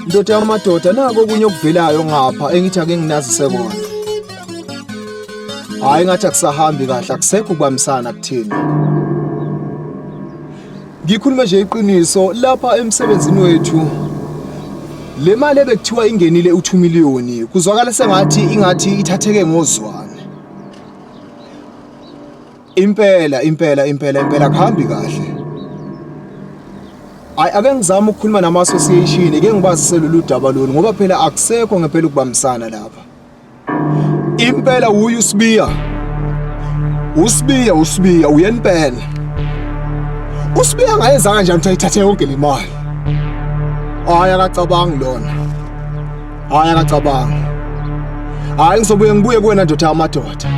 ndoda yamadoda nako okunye okuvelayo ngapha engithi ake nginazise kona hayi ngathi akusahambi kahle akusekho ukubambisana kuthina Ngikhulume nje iqiniso lapha emsebenzini wethu le mali ebekuthiwa ingenile u-2 million kuzwakala sengathi ingathi ithatheke ngozwane impela impela impela impela kuhambi kahle hayi ake ngizame ukukhuluma nama-association ke ngibazise lolu daba lolu ngoba phela akusekho ngempela ukubambisana lapha Impela uyu Sibiya. Usibiya usibiya uyenipela. Usibiya ngayenza kanjani ukuthi ayithathe yonke le mali? Hayi akacabangi lona. Hayi akacabangi. Hayi ngizobuye ngibuye kuwena ndoda yamadoda.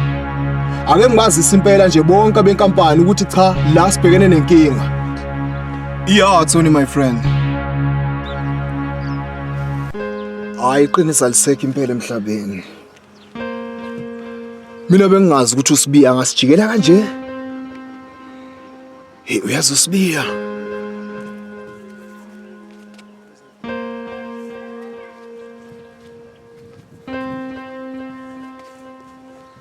Ake ngibazise impela nje bonke abenkampani ukuthi cha la sibhekene nenkinga. Yeah, Tony my friend. Hayi iqiniso alisekho impela emhlabeni. Mina bengingazi ukuthi uSibiya angasijikela kanje. Hey uyazi uSibiya.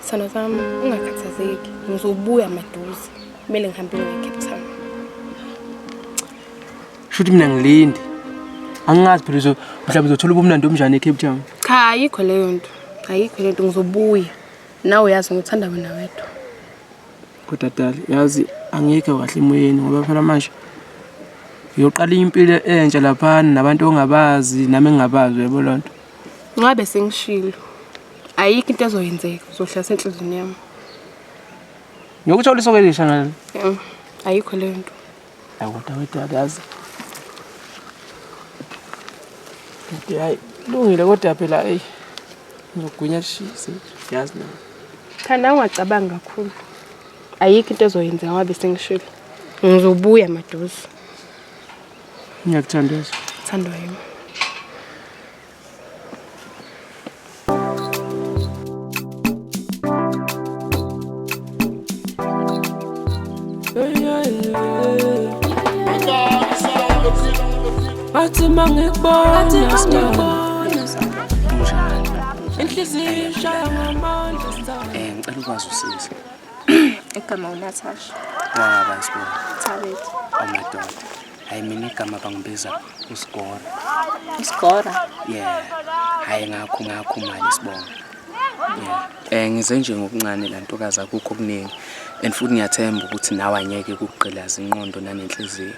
Sana zami ungakhathazeki, ngizobuya maduze. Kumele ngihambe ngiye Cape Town. Shuthi mina ngilindi. Angazi phela uzo mhlawumbe uzothola ubumnandi omnjani eCape Town. Cha ayikho leyo nto. Ayikho leyo nto ngizobuya. Nawe uyazi ngithanda wena wedwa. Kodwa dali yazi angikho kahle emoyeni ngoba phela manje ngiyoqala impilo entsha laphana nabantu ongabazi nami engingabazi uyabo loo nto ncabe sengishilo ayikho into ezoyenzeka uzohlala senhliziyweni yami ngiyokuthola isokelisha ngalo ayikho leyo nto Kodwa wedwa kazi. Kodwa hayi lungile kodwa phela hey. Ngigwinya shisi yazi na. Cha nawe ungacabanga kakhulu. Ayikho into ezoyenzeka wabe sengishilo. Ngizobuya maduze. Ngiyakuthanda. Thandwa yimi. Fatima ngikubona Fatima ngikubona Inhliziyo ishaya ngamandla sithanda Eh ngicela ukwazi usiza Igama uNatasha Waba isibona Thabethu Amadoda oh hayi mina igama bangibiza usigora usigora yeah hayi ngakho ngakho mali sibonga um ngize nje ngokuncane la ntokazi akukho okuningi and futhi ngiyathemba ukuthi nawe anyeke kukugqilaza inqondo nanenhliziyo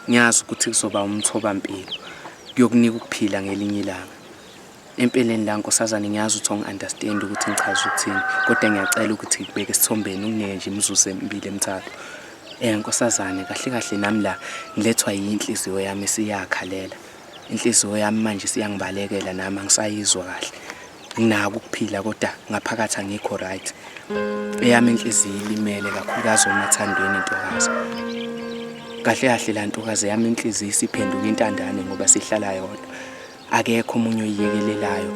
ngiyazi ukuthi kuzoba umthobampilo kuyokunika ukuphila ngelinye ilanga Empeleni la nkosazane ngiyazi ukuthi ongi-understand ukuthi ngichaza ukuthini kodwa ngiyacela ukuthi ngibeke esithombeni kungeke nje imizuzu emibili emithathu um nkosazane kahle kahle nami la ngilethwa yinhliziyo yami siyakhalela inhliziyo yami manje siyangibalekela nami angisayizwa kahle nginako ukuphila kodwa ngaphakathi angikho right eyami inhliziyo ilimele kakhulukazi omathandweni intokazi kahle kahle la ntokazi yami inhliziyo isiphenduka intandane ngoba sihlala yodwa akekho omunye oyiyekelelayo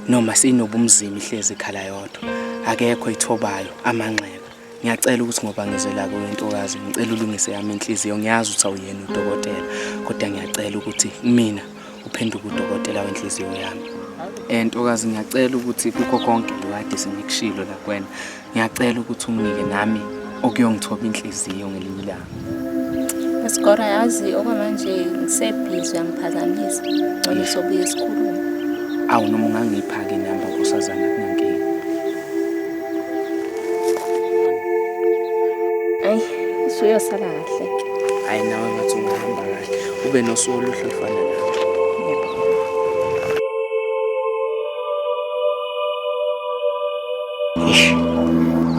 noma sinobumzima ihlezi ikhala yodwa akekho ithobayo amanxeba ngiyacela ukuthi ngoba ngizela kuwe ntokazi ngicela ulungise yami inhliziyo ngiyazi ukuthi awuyena udokotela kodwa ngiyacela ukuthi mina uphenduke udokotela wenhliziyo yami um ntokazi ngiyacela ukuthi kukho konke lokade sengikushilo lakwena ngiyacela ukuthi unginike nami okuyongithoba inhliziyo ngelinye ilanga Isikora yazi okwamanje ngisebhizi uyamphazamisa ngcono sobuye esikhulume awu noma ungangipha-ke inamba nkosazana kunankinga ayi usuyosala kahle hhayi nawe ngathi ungahamba kahle ube nosuku oluhle olufana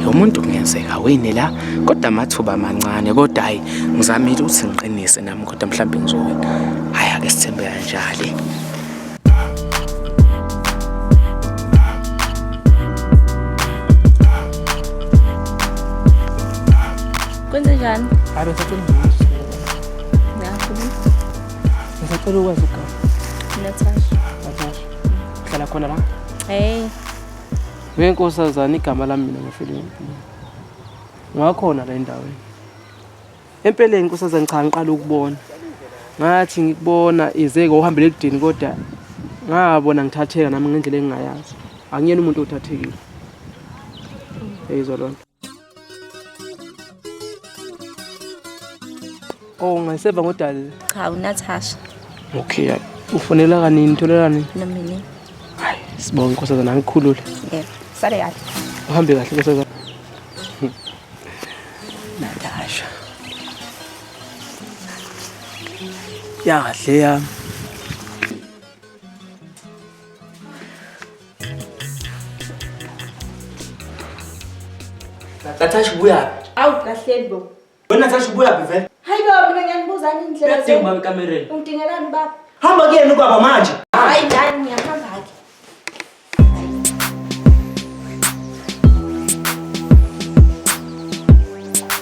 lo muntu kungenzeka wini la kodwa amathuba amancane kodwa hayi ngizamile ukuthi ngiqinise nami kodwa mhlawumbe ngizowina hayi ake sithembe kanjalo kwenze njani hayi besacela ngisacela ukwazi ugama natasha natasha hlala khona la hey Ngeke nkosazana igama lami mina ngifile ngakhona la endaweni empeleni nkosazana cha ngiqala ukubona ngathi ngikubona izeke uhambele ekudini kodwa ngabona ngithatheka nami ngendlela engingayazi angiyena umuntu othathekile eyizwa loo nto Oh, ngiseva ngodali. Cha, uNatasha. Okay, ufonela kanini tholela nini? Nomini. Hayi, sibonga inkosazana angikhulule. Yebo. Sale kahle. Uhambe kahle inkosazana. Natasha. Yahle yami. Natasha ubuyaphi? Awu kahleni bo. Wena Natasha ubuyaphi vele? Hayi baba mina ngiyanibuzani indlela. Uyadinga ubaba ekamereni. Ungidingelani baba? Hamba kuyena ubaba manje. Hayi dani ngiyahamba ke.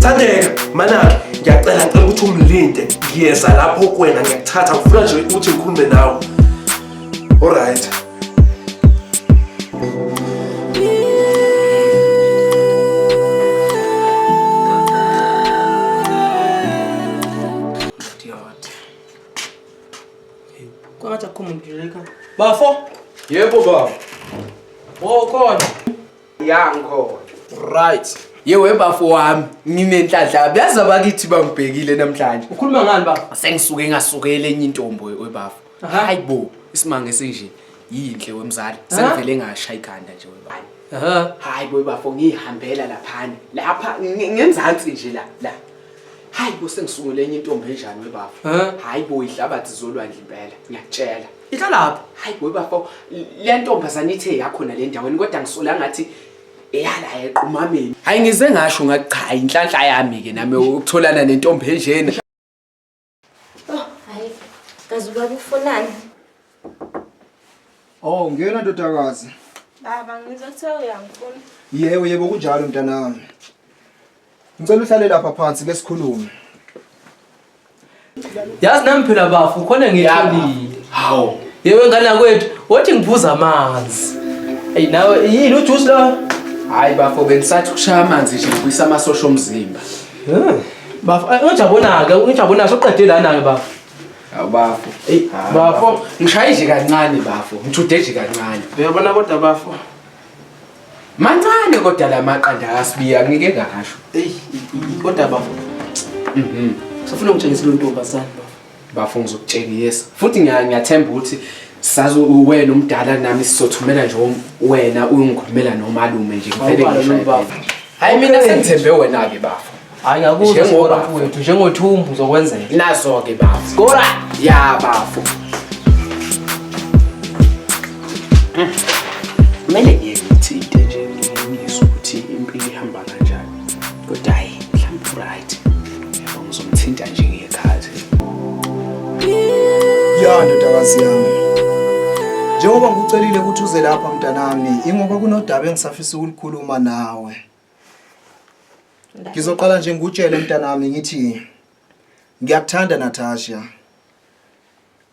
Thandeka manake ngiyacela ngicela ukuthi umlinde ngiyeza lapho kwena ngiyakuthatha ngifuna nje ukuthi ngikhulume nawe alright Bafo? Yebo baba. Wokhona. ya ngikhona right yewe bafo wami nginenhlanhla byazi abakithi bangibhekile namhlanje ukhuluma ngani bafo sengisuke ngasukele enye intombo webafo hayi bo isimanga esinje yinhle wemzali sengivele ngasha ikhanda nje webani hayi bo bafo ngihambela laphana lapha ngenzansi nje la la hayi bo sengisungule enye intombi enjani webafo hayi bo ihlabathi zolwandle impela ngiyakutshela Yitho lapho. Hayi boy bafo, le ntombazane ithe yakho nale ndaweni kodwa ngisola ngathi eyala equmameni. Hayi ngize ngasho ngathi cha inhlanhla yami ke nami ukutholana nentombi enjena. Oh, hayi. Kazi ubaba ufunani? Oh, ngiyona ndodakazi. Baba ngizothiwa uyangifuna. Yebo yebo kunjalo mntanami. Ngicela uhlale lapha phansi ke sikhulume. Yazi nami phela bafu khona ngitholile. Hawu. Yewe ngane yakwethu, wothi ngiphuza amanzi. Ey nawe yini ujuice lo? Hayi bafo bengisathi ukushaya amanzi nje ngibuyisa amasosha omzimba. Eh. Bafo, eh, ungijabonaka, ungijabonaka soqede lana ke bafo. Awubafo. Ey bafo, ngishayile kancane bafo, ngithude nje kancane. Uyabona kodwa bafo. Mancane kodwa la maqanda akasibiya ngike ngasho. Ey, kodwa bafo. Mhm. Sofuna ungitshengise lo ntombazane bafo. Bafo ngizokutshengisa. Futhi ngiyathemba ukuthi sazi uwena umdala nami sizothumela nje wena uyikhulumela nomalume nje ngivele ngisho hayi mina sengithembe wena ke bafo hayi ngakuzwa Njengoba- skora mfowethu njengothumbu uzokwenzela nazo-ke bafo skora ya bafo kumele ngiye ngithinte nje ngimizwe ukuthi impilo ihamba kanjani kodwa hhayi mhlawumbe uright yabo ngizomthinta nje ngekhathi ya ndodakazi yami njengoba ngikucelile ukuthi uze lapha mntanami ingoba kunodaba engisafisa ukulikhuluma nawe Ngizoqala nje ngikutshele mntanami ngithi ngiyakuthanda Natasha.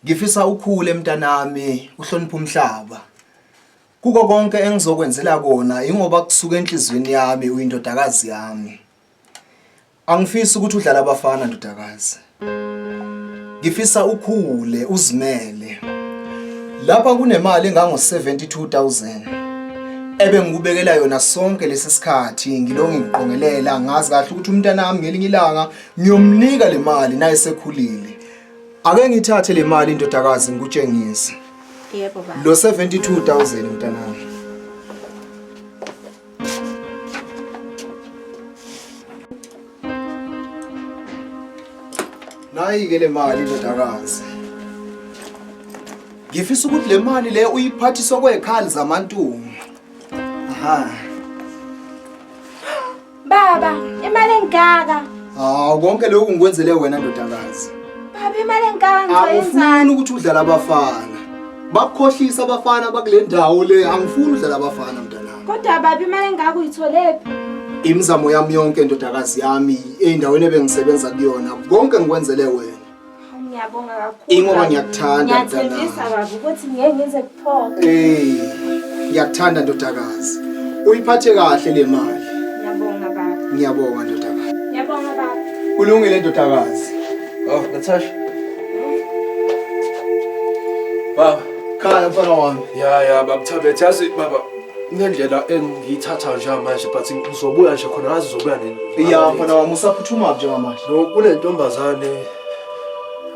Ngifisa ukhule mntanami uhloniphe umhlaba. Kuko konke engizokwenzela kona ingoba kusuka enhlizweni yami uyindodakazi yami. Angifisi ukuthi udlala abafana ndodakazi. Ngifisa ukhule uzimele. Lapha kunemali engango 72000 ebe ngikubekela yona sonke lesi sikhathi ngilonge ngiqongelela ngazi kahle ukuthi umntana wami ngelinye ilanga ngiyomnika le mali naye sekhulile. Ake ngithathe le mali indodakazi ngikutshengise. Yebo baba. Lo 72000 mntanami. Nayi-ke le mali ndodakazi. Ngifisa ukuthi le mali le uyiphathiswa kwekhali zamantungu. Aha. Baba, imali engaka. Hawu konke lokhu ngikwenzele wena ndodakazi. Baba, imali engaka ngizoyenzani? Awufuni ukuthi udlala abafana. Bakukhohlisa abafana bakule ndawo le. Angifuni udlala abafana mntana. Kodwa babi imali engaka uyitholephi? Imizamo yami yonke ndodakazi yami endaweni ebengisebenza kuyona konke ngikwenzele wena. Ngiyabonga kakhulu. Ingoba ngiyakuthanda mntanami. Ngiyathembisa baba ukuthi ngeke ngize kuphoke. Eh, ngiyakuthanda ndodakazi. Uyiphathe kahle le mali. Ngiyabonga baba. Ngiyabonga ndodakazi. Ngiyabonga baba. Kulungile ndodakazi. Oh, Natasha. Baba. Khaya mfana wami. Ya ya baba Thabethe yazi baba nendlela engiyithatha nje manje but ngizobuya nje khona ngazi uzobuya nini. Ya mfana wami usaphuthuma nje manje. No kunentombazane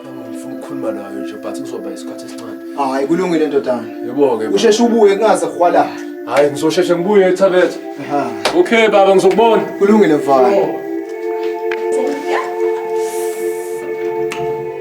engifuna ukukhuluma nayo nje but kuzoba isikhathi esincane. Hayi kulungile ndodana. Yebo ke. Usheshe ubuye kungaze khwala. Hayi ngizosheshe ngibuye Thabethe. Ha. Okay baba ngizokubona. Kulungile mfana. Oh.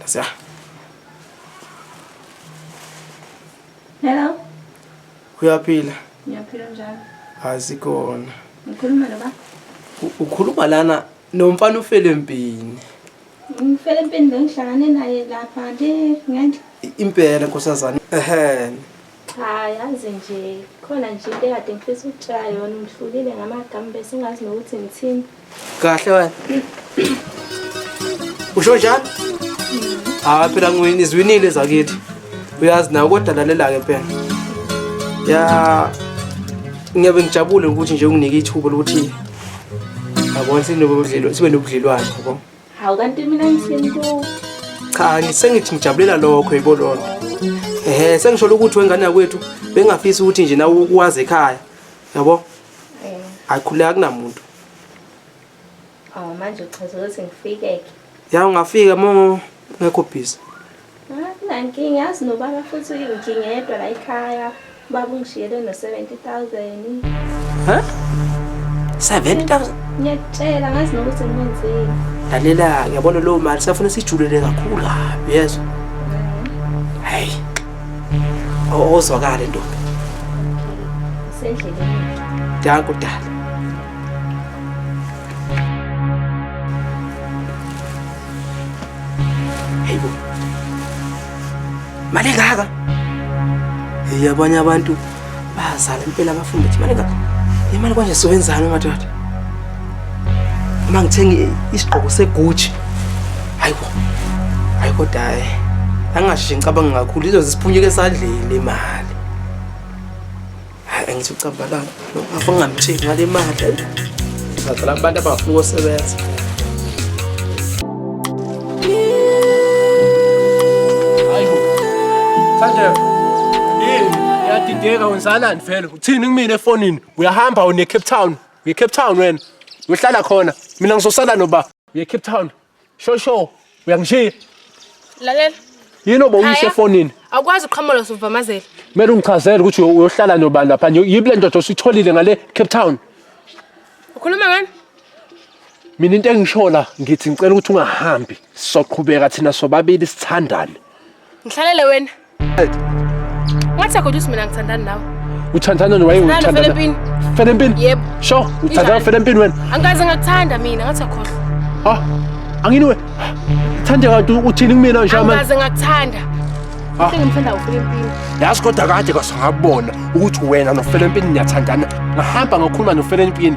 Nasiya. Hello. Uyaphila? Ngiyaphila njalo. Asikona. Ngikhuluma lo ba. Ukhuluma lana nomfana ufele empini. Ngifele empini bengihlangane naye lapha nje ngenhla. Impela nkosazana. Ehhe. Cha yazi nje khona nje into ekade ngifisa ukutshela yona ungihlulile ngamagama bese ngazi nokuthi ngithini. Kahle wena. Usho njani? Hayi phela ngwini izwinile zakithi. Uyazi nawe kodwa lalela ke phela. Ya ngiyabe ngijabule ukuthi nje unginike ithuba lokuthi yabona sinobudlelwano sibe nobudlelwano yabo. Hawu kanti mina ngithini ku? Cha ngisengithi ngijabulela lokho yebo lona. Ehhe sengisholo ukuthi wengane yakwethu bengafisi ukuthi nje nawe ukwazi ekhaya. Yabo? Eh. Ayikhuleka kunamuntu. Awu manje uchaza ukuthi ngifike ke. Ya ungafika mo ngekho busy. Akunankinga yazi nobaba futhi ngingedwa la ekhaya. Baba ungishiyele no 70000. Huh? 70000? Ngiyakutshela ngazi nokuthi ngimenzeni. Lalela ngiyabona lo mali safuna sijulele kakhulu kabi yezwa. Hey. Ozwakala ntombi. Sendleleni. Danko dala. Hey bo. Mali ngaka. Hey abanye abantu bazala impela bafunda ukuthi mali ngaka. Imali kwanje siwenzani madoda? Uma ngithenga isigqoko segucci. Hayi bo. Hayi kodwa hayi. Angashiyi ngicabanga kakhulu izoze siphunyuke esadleni imali. Hayi ngithi ucambalanga. Ngifuna ngamthini ngale mali. Ngicela abantu abafuna ukusebenza. Sanjev. Yini? Uyadideka wenzakalani vele? Uthini kumina efonini? Uyahamba une Cape Town. Uye Cape Town wena. Uyohlala khona. Mina ngizosala noba. Uye Cape Town. Sho sho, uyangishiya. Lalela. Yini obowuyishe Khaya. efonini? Awukwazi uqhamuka suvamazela. Kumele ungichazele ukuthi uyo- uyohlala nobani lapha. Yibi le ndoda ositholile ngale Cape Town. Ukhuluma ngani? Mina into engishola ngithi ngicela ukuthi ungahambi. Sizoqhubeka thina sobabili sithandane. Ngihlalele wena. Ngathi kodwa uthi mina ngithandana nawe. Uthandana nawe uthandana. Fela empini. Fela empini. Yebo. Sho, uthandana fela empini wena. Angikaze ngakuthanda mina, ngathi akhohlwa. Ha? Angini wena. Thanda kanti uthini kumina nje manje? Angikaze ngakuthanda. Ah. Ngimthanda ufela empini. Yazi kodwa kade kwasangabona ukuthi wena nofela empini niyathandana. Ngahamba ngakhuluma nofela empini.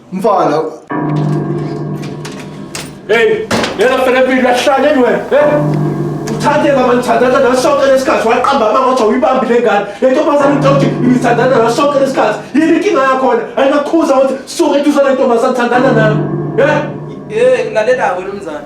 Mfana. Hey, yena fela mpilo yahlaleni wena. Hey. Uthathe mama nithandaza nawe sonke lesikhathi waqamba amanga wathi awuyibambi le ngane. Le ntombazane ngicela ukuthi nithandaza nawe sonke lesikhathi. Yini inkinga yakhona? Ayinakukhuza ukuthi suke eduzane ntombazane thandana nawe. Hey. Eh, lalela wena mzane.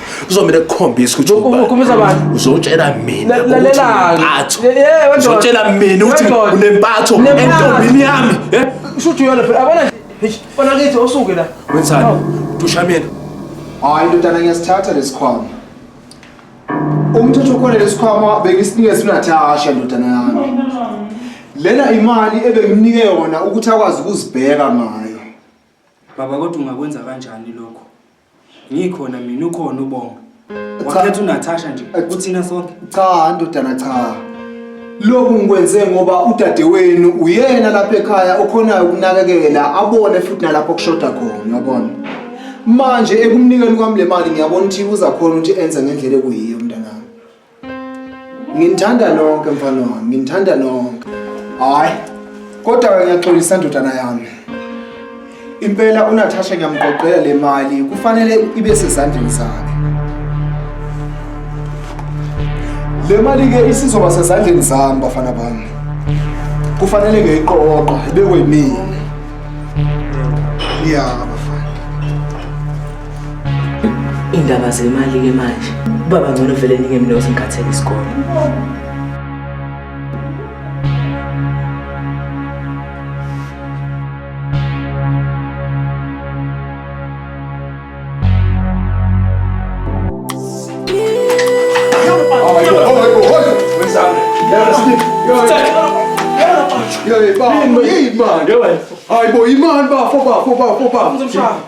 kuzomele kukhombise ukuthi ukhombisa abantu uzotshela mina ukuthi eh, uzotshela mina ukuthi unempatho entombini yami eh? shuthi yona phela abona bona kithi osuke la wenzani dusha mina hayi ndodana ngiyasithatha lesikhwama umthetho khona lesikhwama bengisinikeza uNatasha ndodana yami lena imali ebengimnike yona ukuthi akwazi ukuzibheka ngayo baba kodwa ungakwenza kanjani lokho Ngikhona mina ukhona ubonga. Wakhetha uNatasha nje kuthina sonke. Cha ndodana cha. Lokhu ngikwenze ngoba udadewenu uyena lapha ekhaya okhonayo ukunakekela abone futhi nalapho kushoda khona uyabona. Manje ekumnikeni kwami le mali ngiyabona ukuthi uzakhona ukuthi enze ngendlela ekuyiyo. Nginithanda nonke mfana wami, nginithanda nonke. Hayi. Kodwa ke ngiyaxolisa ndodana yami. Impela uNatasha ngiyamqoqela le mali, kufanele ibe sezandleni zakhe. Le mali ke isizoba sezandleni zami bafana bami. Kufanele ngiyiqoqe ibekwe yimina. Yeah. Indaba zemali ke manje. Baba ngcono vele ninge mina uzingikhathele isikole. Yay, bafo, yay, man. Yay, bafo. Ay, boy, man, bafo, bafo, bafo, bafo. Vamos, vamos, vamos.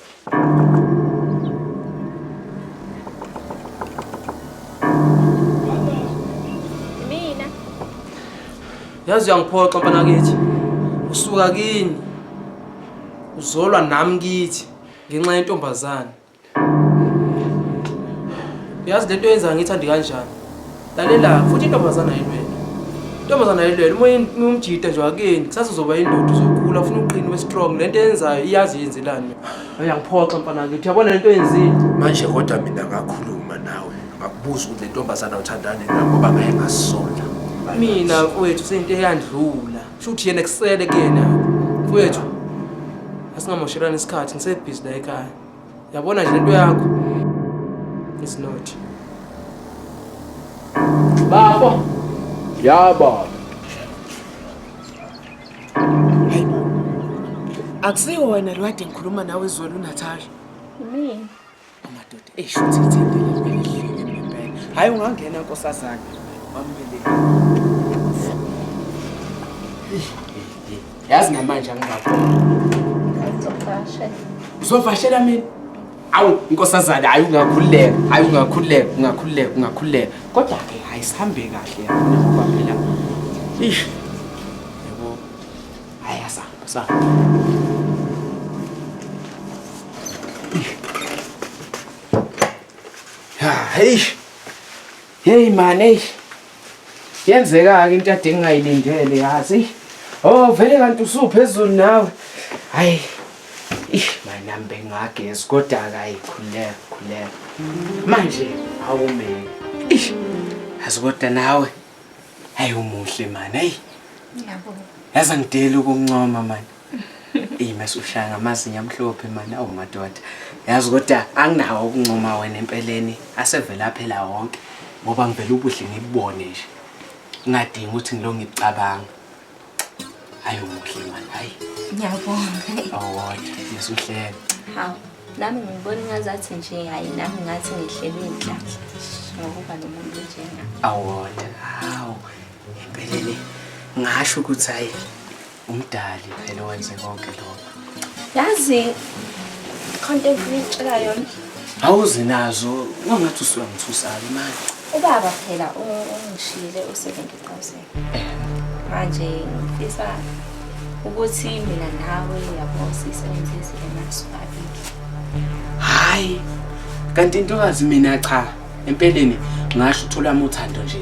Mina. Yazi uyangiphoxa mfana kithi. Usuka kini. Uzolwa nami kithi ngenxa yentombazane. Yazi lento yenza ngithandi kanjani? lalela futhi intombazana ayilwele intombazana ayilwele uma umjita nje wakeni kusasa uzoba indoda uzokhula ufuna uqini we-strong le nto eyenzayo iyazi yenzelani uyangiphoxa mfana kithi yabona le nto yenzile manje kodwa mina ngakhuluma nawe ngakubuza ukuthi le ntombazana uthandane na ngoba ngaye ngasola mina mfowethu seyinto eyandlula kusho ukuthi yena kusele kuyena mfowethu asingamoshelani isikhathi ngisebhizi la ekhaya Yabona nje lento yakho. It's not. Baba. Ya baba. Akusiwo wena lo kade ngikhuluma nawe izolo uNatasha. Mina. Amadoda esho ukuthi ithembele ngeke ngempela. Hayi ungangena nkosazana. Wambelela. yazi namanje angingaboni uzovashela mina awu inkosazana hayi ungakhululeka hayi ungakhululeka ungakhululeka ungakhululeka kodwa ke hayi sihambe kahle ngoba phela ish yebo hayi asahamba sahamba hayi hey man hey Yenzeka-ke into ade ngingayilindele yazi. Oh vele kanti usuphezulu nawe. Hayi. Ish mina bengagezi kodwa akayi khuleka khuleka. Manje awumele. Ish. Yazi kodwa nawe. Hayi umuhle mani. Hayi. Ngiyabonga. Yazi angideli ukuncoma mani. Eyi masushaya ngamazinyo amhlophe mani awu madoda. Yazi kodwa anginawo ukuncoma wena empeleni asevele aphela wonke ngoba ngivele ubuhle ngibubone nje. Ngingadingi ukuthi ngilo ngikucabanga. Hayi umuhle mani hayi. Ngiyabonga. Awodwa masuhleke. Hawu nami ngibona ngazathi nje hayi nami ngathi ngihlelwe inhlanhla ngokuba nomuntu njengami. Awodwa hawu empeleni ngasho ukuthi hayi Umdali phela owenze konke lokho. Yazi content ngicela yona. Awuze nazo ungathi usuyangithusala imali. Ubaba phela ungishiyile u-70,000. Eh. Manje ngifisa ukuthi mina nawe yabo sisebenzise le mali sobabili. Hayi. Kanti intokazi mina cha. empeleni ngasho uthola uthando nje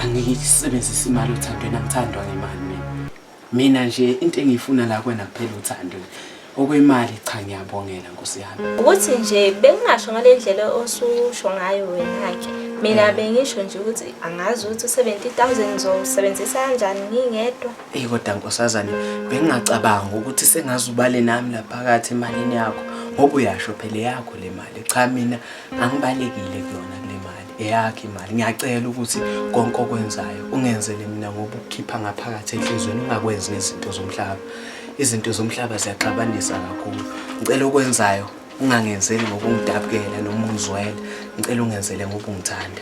angisebenzisi imali othandweni angithandwa ngemali mina mina nje into engiyifuna la kwena kuphela uthando okwemali cha ngiyabongela nkosi yami ukuthi nje bengingasho ngale ndlela osusho ngayo wena-ke mina mm. bengisho nje ukuthi angazi ukuthi u-seventy thousand ngizowusebenzisa kanjani ngingedwa eyi kodwa nkosazane bengingacabanga ukuthi sengaze ubale nami laphakathi emalini yakho ngoba uyasho phela yakho le mali cha mina Angibalekile kuyona kule mali eyakhe imali. Ngiyacela ukuthi konke okwenzayo ungenzele mina ngoba ukukhipha ngaphakathi enhlizweni ungakwenzi nezinto zomhlaba. Izinto zomhlaba ziyaxabanisa kakhulu. Ngicela okwenzayo ungangenzeli ngokungidabukela noma ungizwela. Ngicela ungenzele ngoba ungithanda.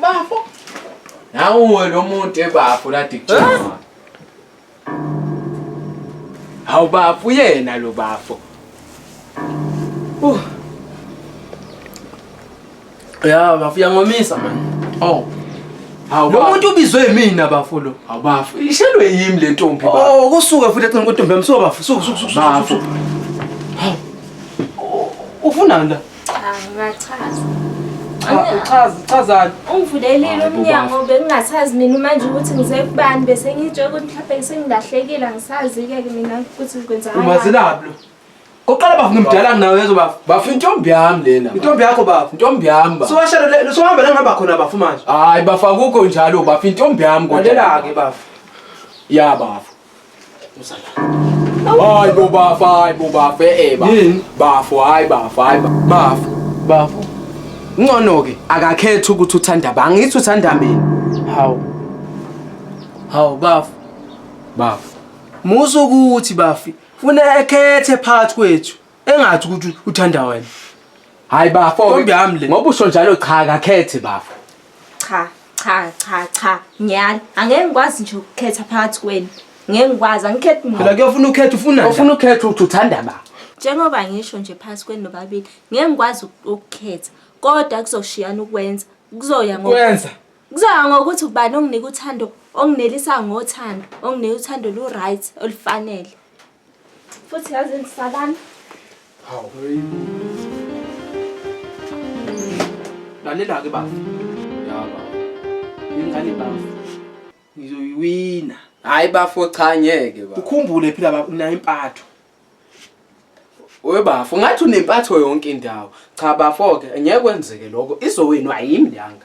Bafo. Nawe lo muntu ebafo la dijama. Hawu bafo yena lo bafo. Uh. Ya bafo yangomisa man. Oh. Hawu lo muntu ubizwe yimina bafo lo. Hawu bafo ishelwe yimi le ntombi bafo. Oh kusuke futhi ecinga ukuthi ntombi yami so bafo. Suku suku suku. Bafo. Ufunani la? Cha, ngiyachaza. Uchaza, uchazani? Ungivulelile umnyango bengingasazi mina manje ukuthi ngisekubani bese ngitshe ukuthi mhlawumbe ngisengilahlekile angisazi-ke ke mina ukuthi kwenzakalani. Umazelaphi lo? Oqala bafo ngimdala nawe yezo bafo. Bafo intombi yami lena. Intombi yakho bafo. Intombi yami bafo. Siwashela le sohamba la ngihamba khona bafo manje. Hayi bafo akukho njalo bafo intombi yami kodwa. Lalela-ke bafo. Ya bafo. Hayi bo bafo, hayi bo bafo, eh bafo. Yini? Bafo, hayi bafo, hayi ba- bafo. Bafo. Ngcono ke akakhethi ukuthi uthanda ba. Angithi uthanda mina. Hawu. Hawu bafo. Bafo. Musa ukuthi bafi. Funa ekhethe phakathi kwethu. engathi ukuthi uthanda wena hayi bafo ntombi yami le ngoba usho njalo cha kakhethe bafo cha cha cha cha ngiyala angeke ngikwazi nje ukukhetha phakathi kwenu ngeke ngikwazi angikhethi muntu phela kuyofuna ukhetha ufuna ufuna ukhetha ukuthi uthanda ba njengoba ngisho nje phakathi kwenu nobabili ngeke ngikwazi ukukhetha kodwa kuzoshiyana ukwenza kuzoya ngokwenza kuzoya ngokuthi ubani onginika uthando onginelisa ngothando onginika uthando lu-right olufanele Futhi yazi ndisabana. Hawu. Lalela ke baba. Ya baba. Ingane baba. Ngizoyiwina. Hayi bafo cha ngeke baba. Ukhumbule phila baba unayo impatho. Webafo ngathi unempatho yonke indawo. Cha bafo ke ngeke kwenzeke lokho. Izowinwa yimi leyangane.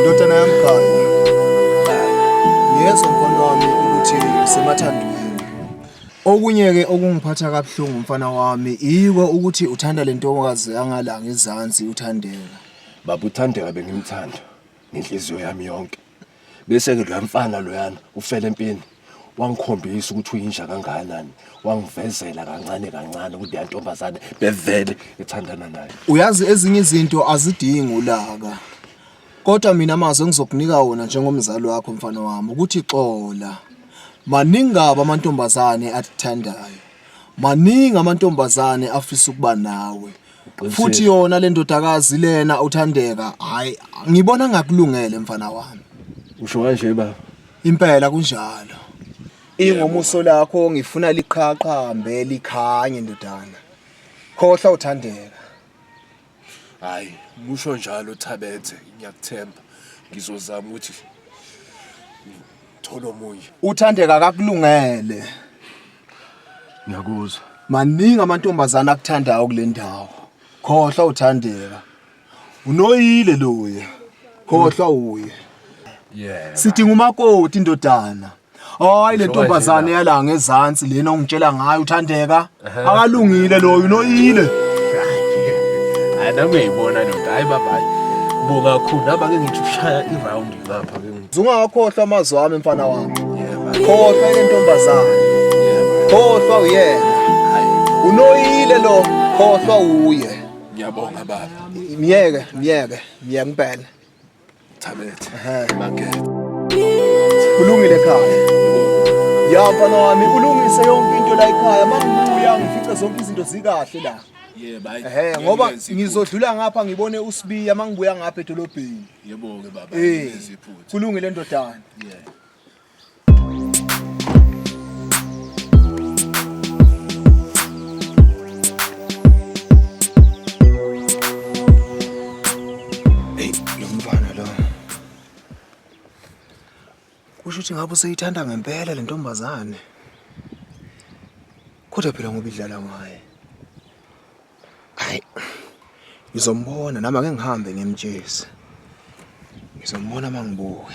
Ndodana yami Gaya, ngiyezwa mfana wami ukuthi usemathandweni. Okunye-ke okungiphatha kabuhlungu mfana wami yiko ukuthi uthanda le ntokazi yangalanga ezansi uthandeka. Baba uThandeka bengimthanda ngenhliziyo yami yonke. bese ke lo mfana loyana ufele empini wangikhombisa ukuthi uyinja kangakanani wangivezela kancane kancane ukuthi yantombazane bevele ethandana naye uyazi ezinye izinto azidingi ulaka kodwa mina mazwe ngizokunika wona njengomzali wakho mfana wami ukuthi xola maningi kabi amantombazane athandayo maningi amantombazane afisa ukuba nawe futhi yona le ndodakazi lena uthandeka hayi ngibona ngakulungele mfana wami usho kanje baba impela kunjalo ingomuso lakho ngifuna liqhaqhambe likhanye ndodana khohla uthandeka hayi musho njalo thabethe ngiyakuthemba ngizozama ukuthi thola omunye uthandeka kakulungele ngiyakuzwa maningi amantombazana akuthandayo kule ndawo khohlwa uthandeka unoyile loye khohlwa uye yeah sidinga umakoti indodana hayi le ntombazane yala ngezansi lena ongitshela ngayo uthandeka akalungile loyo unoyile hayi nami uyayibona ndoda hayi baba buka khulu naba ke ngithi ushaya i-round ngapha ke Zungakhohlwa amazwi ami mfana wami. Khohlwa intombazana. Khohlwa uyena. Unoyile lo, khohlwa uye. Ngiyabonga baba. Myeke, myeke, myeke ngibhene. Thabethe. Ehe, makethe. Kulungile ekhaya. Ya mfana wami ulungise yonke into la ekhaya. Mangibuya ngifice zonke izinto zikahle la. Yebo hayi. Ehe, ngoba ngizodlula ngapha ngibone uSibiya mangibuya ngapha edolobheni. Yebo-ke baba, Eh, ngenze iphutha. kulungile ndodana. Yeah. Hey, lo mfana lo. Kusho ukuthi ngabe useyithanda ngempela le ntombazane. Kodwa phela ngoba idlala ngaye. Hayi. Ngizombona nami ake ngihambe ngimtshezi. Ngizombona mangibuke.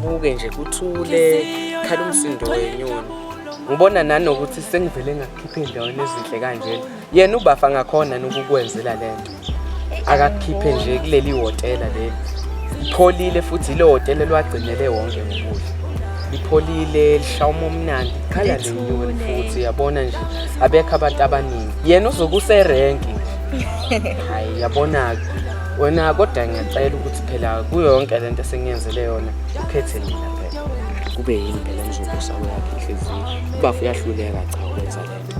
Buke nje kuthule khala umsindo wenyoni. Ngibona nanokuthi sengivele ngakhipha endaweni ezinhle kanjena. Yena ubafa ngakhona nokukwenzela lento. Akakhiphe nje kuleli hotela leli. Ipholile futhi ile hotela lwagcinele wonke ngokudla. Ipholile lishawuma omnandi. Khala le nyoni futhi yabona nje abekho abantu abaningi. Yena uzokuserenki. Hayi yabona-ke. wena kodwa ngiyacela ukuthi phela kuyo yonke le nto esengiyenzele yona ukhethe mina phela kube yini phela ngizobusa kweyakhe inhliziyo ubafu uyahluleka cha ukwenza le nto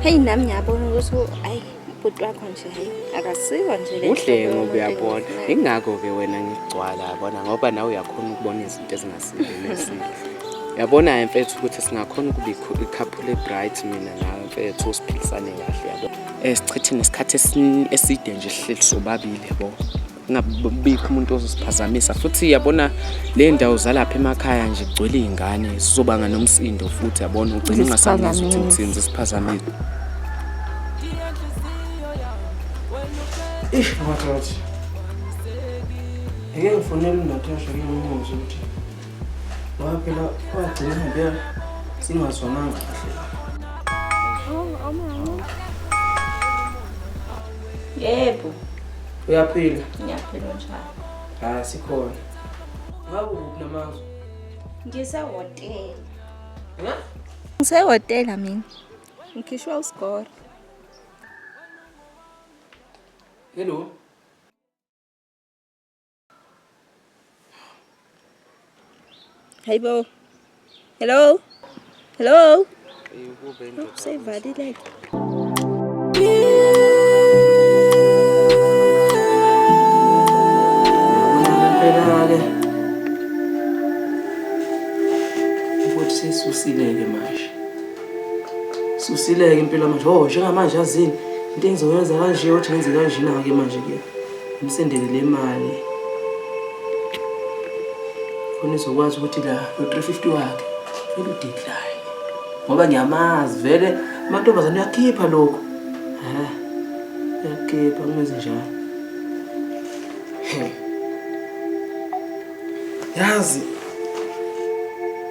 heyi nami ngiyabona ukuthi ayi ubhuti wakho nje hayi akasiwo nje le udlengo uyabona ingakho-ke wena ngigcwala yabona ngoba nawe uyakhona ukubona izinto ezingasilelesile yabona mfethu ukuthi singakhona ukuba ikhaphu le-bright mina nawe mfethu siphilisane kahle yabona Eh sichithe nesikhathi eside nje sihleli sobabili yabo. Ngabikho umuntu ozosiphazamisa futhi yabona le ndawo zalapha emakhaya nje kugcwele izingane zizobanga nomsindo futhi yabona ugcina ungasazi ukuthi uthini zisiphazamile. Ish ngathi ngeke ngifonele uNatasha ngimbuze ukuthi ngoba phela kwagcina ngempela singazwananga kahle yebo uyaphila ngiyaphila njalo hayi sikhona ngaku namazwe ngisehotela ha ngisehotela mina ngikhishwa usigora hello Hello. Hello. Hello. Oh, say body like. Susileke manje. Susileke impilo manje. Oh, njengamanje azini. Into engizoyenza kanje uthi ngenze kanjena ke manje ke. Umsendele le mali khona izokwazi ukuthi la no-350 wakhe vele udecline ngoba ngiyamazi vele amantombazane uyakhipha lokhu um uyakhipha kumenze njalo yazi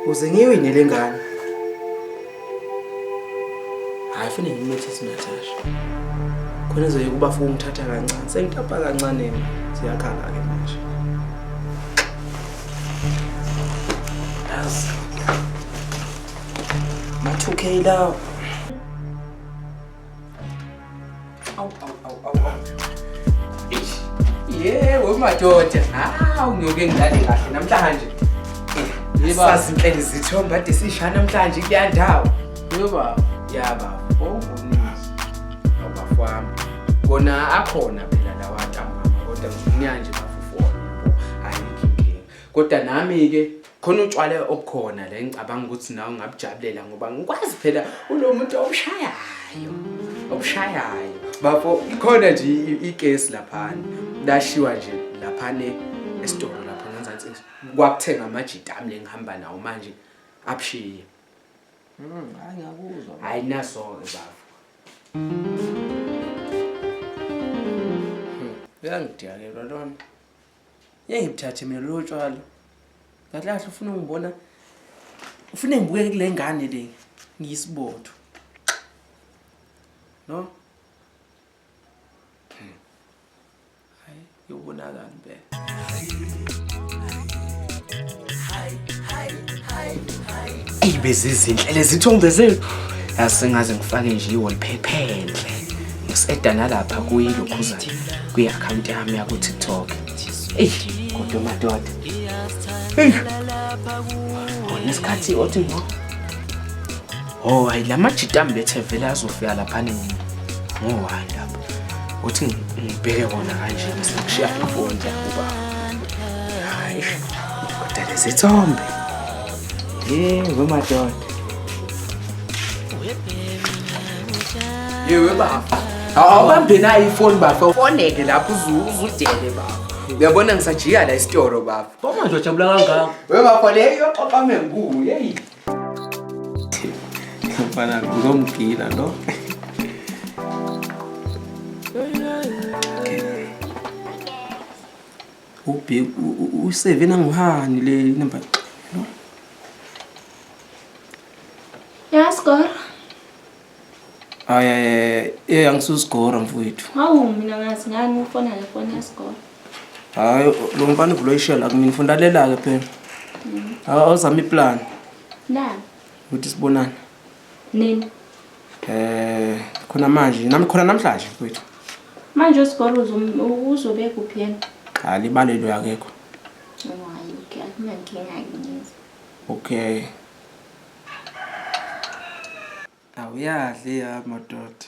uze ngiwine le ngane hayi fune ngimithise natasha khona ezoye kuba funa ungithatha kancane sengitapa kancane ziyakhala-ke manje yazi ma-two k lawo Awu awu awu awu awu. Eish. Yebo madoda. Hawu ngiyoke ngidlale kahle namhlanje. Yebo. Sazi inhleli zithomba ade sishaya namhlanje kuya ndawo. Yebo baba. Ya baba. Owunisi. Baba wami. Kona akhona phela lawa ntambama kodwa ngifuna nje bafufu wona. Hayi inkinga. Kodwa nami ke khona utshwale obukhona la engicabanga ukuthi nawe ungabujabulela ngoba ngikwazi phela ulo muntu obushayayo obushayayo bafo ikhona nje ikesi laphana lashiwa nje laphane esitolo lapha ngenzansi kwakuthenga amajita ami lengihamba nawo manje abushiye mm, hayi ngiyakuzwa hayi naso-ke bafo hmm, uyangidiyakelwa lona Ngeke ngibuthathe mina lobo tshwala. Kahle kahle ufuna ungibona ufuna ngibukeke kule ngane le ngiyisibotho. No? Hmm. Hayi, yobonakala impela. Hayi, hayi, hayi, hayi. Eyi bezizinhle lezithombe zethu. Yazi sengaze ngifake nje i-wallpaper enhle. Ngisi-eda nalapha kuyilokhuzana kwi-akhawunti yami yaku-TikTok. Eyi kodwa madoda. Eyi. Khona isikhathi othi ngo. Oh, hayi la majita ambethe vele azofika lapha nini. Ngo-one lapha. Uthi ngi- ngibheke wona kanje ngizokushiya ngifunda kuba. Hayi. Kodwa lezithombe. Yebo madoda. Yewe baba. Awubambe nayo ifoni bafo. Ufoneke lapho uzudele baba. Uyabona ngisajika la isitoro baba. Boma nje ujabula kangaka. Wewe bafo leyo oqame ngulu. Hey. Mfana ngizomgila lo. Ubheki useve nanguhani le number no? Ya score. Aye, eh angisusigora mfowethu. Hawu mina ngazi ngani ufona le foni ya score. Hayi lo mfana uvula ishela kumina ufunda lela ke phela. Mhm. Awuzama iplan. Na. Uthi sibonana. Nini? Eh khona manje nami khona namhlanje mfowethu. Manje uSigolo uzobe kuphi yena? Cha libalelwe akekho. Hayi okay akunankinga ngiyenza. Okay. Awuyadli ya madoda.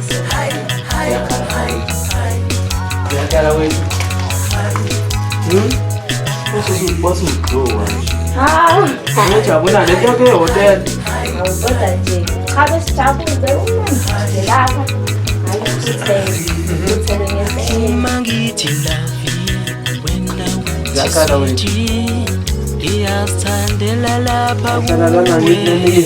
Jabula le nto ke hotel. Awudoda nje. Cha besijabule umanje lapha. Uma ngithi love wena uthi iyazithandela lapha kuwe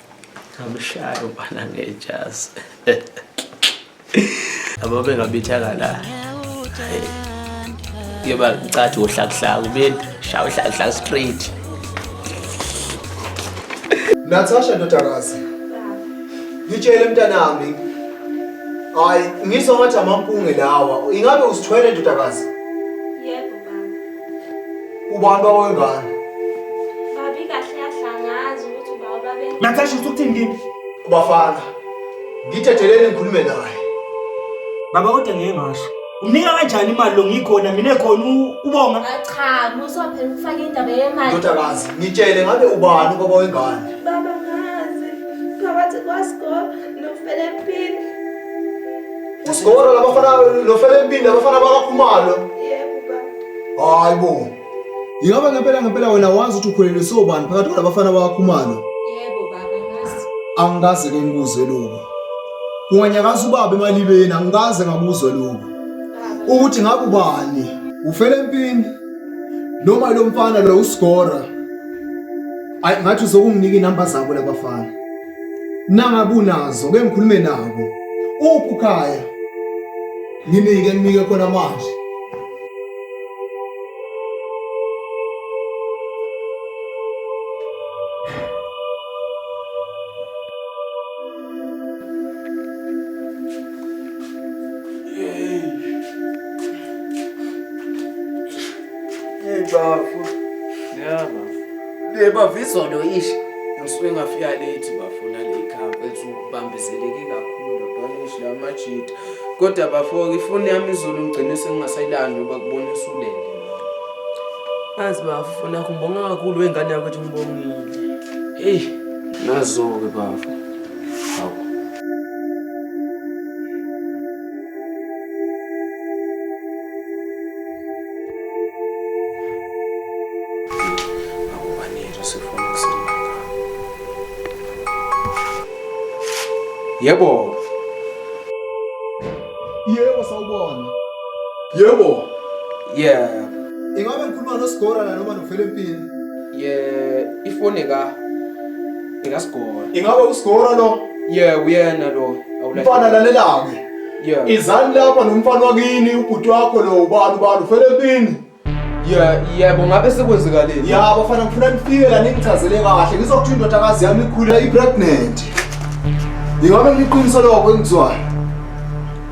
Ngamshaya ubana ngejazi. Abo bengabithaka la. Yeba ngicathi uhlakuhlaku mina shaya uhlakuhlaku straight. Natasha ndodakazi. Ngitshele mntanami. Hayi, ngizwa ngathi amampunge lawa. Ingabe usithwele ndodakazi? Ubani baba wengane? Babi kahle kahle angazi ukuthi ubaba babe. Natasha usukuthini kimi? Ubafana. Ngithetheleni ngikhulume naye. Baba kodwa ngeke ngasho. Unika kanjani imali lo ngikhona mina khona ubonga? Cha, musa phela ukufaka indaba yemali. Ndodakazi, ngitshele ngabe ubani ubaba wengane? Baba ngazi. Phakathi kwasko nofele phini. Usigora labafana lofela empini abafana bakakhumalo. Yebo baba. Hayi bo. Ingabe ngempela ngempela wena wazi ukuthi ukhulelwe sobani phakathi kwalabafana bakakhumalo? Yebo baba ngazi. Angikaze ke ngikuzwe lokho. Unganyakaza ubaba emalibeni angikaze ngakuzwe lokho. Ukuthi ngabe ubani? Ufela empini noma lo mfana lo usigora? Ayi ngathi uzokunginika inamba zabo labafana. nangabe unazo ke ngikhulume nabo uphi ukhaya nginike nginike khona manje Bebavizolo ish ngisuke ngafika late bafuna le camp ethi ubambezeleke kakhulu banish la majita. Kodwa bafo ifoni yami izolo ngigcine sengingasayilandi ngoba kubona usulele. Azi bafo nakubonga kakhulu wengane yakho ethi ngibongile. Hey nazo ke bafo. Yebo. Yebo sawubona. Yebo. Yeah. Ingabe ngikhuluma noSigora la noma noFelempini? Yeah, ifone ka ingasigora ingabe usigora lo yeah uyena lo mfana lalelake yeah izani lapha nomfana wakini ubhuti wakho lo ubani ubani ufele empini Yeah, yebo ngabe sekwenzekaleni. Ya bafana ngifuna nifike la ningichazele kahle. Ngizokuthu indodakazi yami ikhule i pregnant. Ingabe ngiqiniso lokho engizwayo?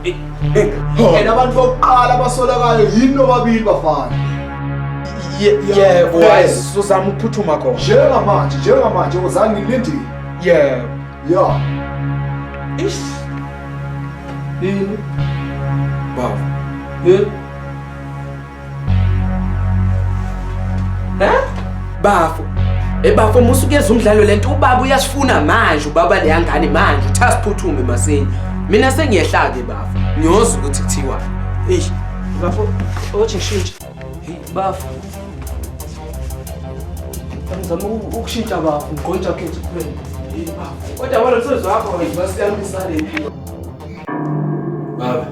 and abantu bokuqala abasolakayo yini nobabili bafana yebo wayezozama ukuphuthuma khona njengamanje njengamanje uzange ngilindile yebo ya ish yini baba yebo Hä? Bafo. Ebafo eh, musukeza umdlalo lento ubaba uyasifuna manje ubaba leya ngane manje uthatha siphuthume masinya. Mina sengiyehla ke bafo. Ngiyozwa ukuthi kuthiwa. Eish. Bafo, othi shintsha. Hey bafo. Ngizama ukushintsha bafo, ngqontsha khethu kuphela. Hey bafo. Kodwa wena umsebenzi wakho ngiyibasiyamisana impilo. Baba.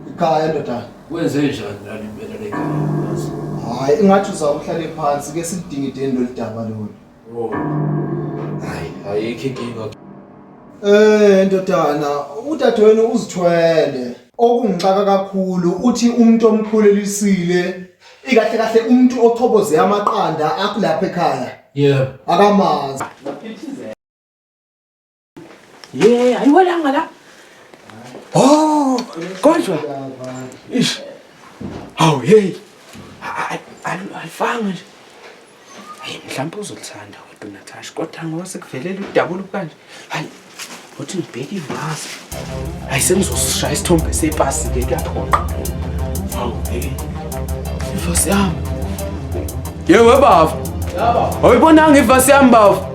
Ikhaya ndoda. Wenze njani lali impela le kazi? Hayi ingathi uzawuhlale phansi ke sidingideni lolidaba lolu. Oh. Hayi, ayikho inkinga. Eh ndodana, udadewenu uzithwele. Okungixaka kakhulu uthi umuntu omkhulelisile ikahle kahle umuntu ochoboze amaqanda akulapha ekhaya. Yeah. Akamazi. Ye, ayiwelanga la. Oh, kodwa. Ish. Hawu hey. Alifanga nje. Hey, mhlawumbe uzothanda kodwa Natasha, kodwa ngoba sekuvelela udabula kanje. Hayi. Uthi ngibheke ivazi. Hayi sengizosishaya isithombe sepasi ke kuyaphoqa. Hawu hey. Ivazi yami. Yewe baba. Yaba. Awuyibonanga ivazi yami baba.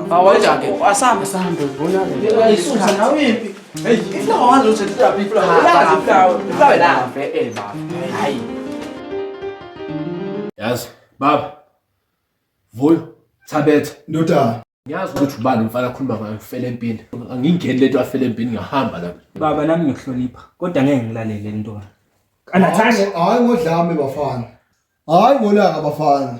Awayijake. Asambe sambe ubona. Ayisusa nawe impi. Hey, into wazi ukuthi kuthiwa people are. Ulazi kuthiwa. Kuthiwa la. Eh baba. Hayi. Yazi baba. Vuyo. Thabetha. Ndodana. Ngiyazi ukuthi ubani umfana akhuluma ngayo ufele empini. Angingeni lento afele empini ngahamba la. Baba nami ngiyohlonipha kodwa ngeke ngilalele ntwana. Anathashe. Hayi ngodlame bafana. Hayi ngolaka bafana.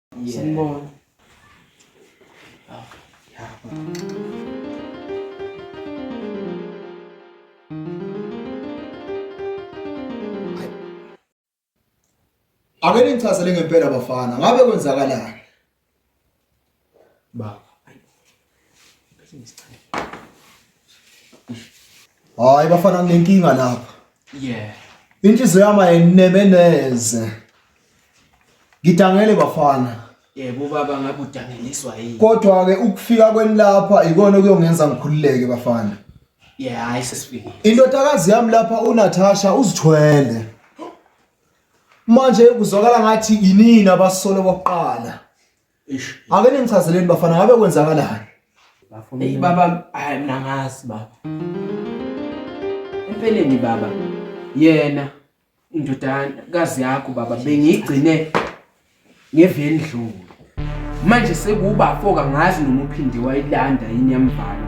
Sanibona. Ake ningichazele ngempela bafana, ngabe kwenzakalani? Baba. hayi bafana nginenkinga lapha yeah inhliziyo yami ayineme neze ngidangele bafana yebo baba ngabe udangeliswa yini kodwa ke ukufika kweni lapha ikona okuyongenza ngikhululeke bafana yeah hayi sesifike indodakazi yami lapha uNatasha uzithwele manje kuzwakala ngathi yinini abasolo bokuqala Eish. Ake ningichazeleni bafana ngabe kwenzakalani? Bafuna. Hey baba, hayi mina ngazi baba. Empeleni baba, yena indodakazi yakho baba bengiyigcine ngevendlulu. Manje sekuba foka ngazi noma uphinde wayilanda yini yamvala.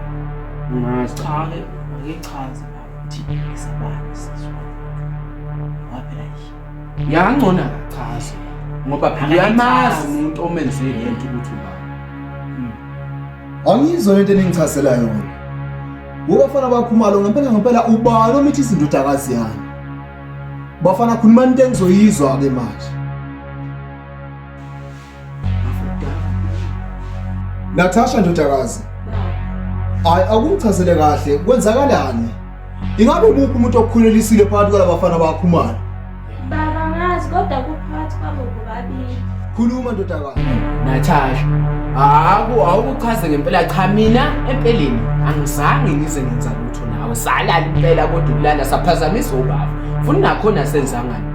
Ngazi. Cha ke, ngichaza baba. Thina sabani sizwa. Waphela yini? Yangcona akachaze ngoba phela uyamazi umuntu omenze lento ukuthi uba. Hmm. Angizwa lento eningichazela yona. Wobafana bakhumalo ngempela ngempela ubani omithi izindodakazi yami. Bafana khuluma into engizoyizwa ke manje. Natasha ndodakazi hayi akumchazele kahle kwenzakalani ingabe umuphi umuntu okukhulelisile phakathi kwalabafana bakho umali baba ngazi kodwa kuphakathi kwabo bobabili khuluma ndodakazi Natasha haku awukuchaze ngempela cha mina empeleni angizange ngize ngenza lutho nawe salala impela kodwa ukulala saphazamisa ubaba funa nakhona senzangani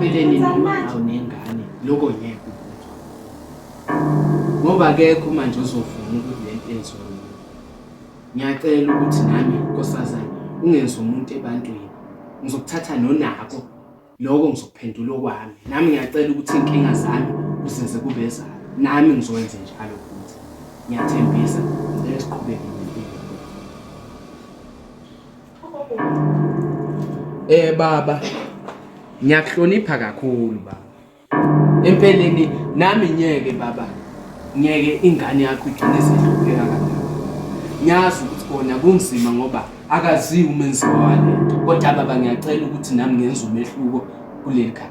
empilweni noma awunengane lokho ngeke ukuzwa ngoba akekho manje ozovuma ukuthi le nto yenziwa mina ngiyacela ukuthi nami nkosazana ungenzi umuntu ebantwini ngizokuthatha nonako lokho ngizokuphendula okwami nami ngiyacela ukuthi iy'nkinga zami uzenze kube ezami nami ngizokwenze njalo futhi ngiyathembisa ngicela siqhubeke Eh baba ngiyakuhlonipha kakhulu baba. Empeleni nami ngeke baba ngeke ingane yakho igcine sehlupheka kangaka. Ngiyazi ukuthi kona kunzima ngoba akaziwa umenzi wale kodwa baba ngiyacela ukuthi nami ngenze umehluko kuleli khaya.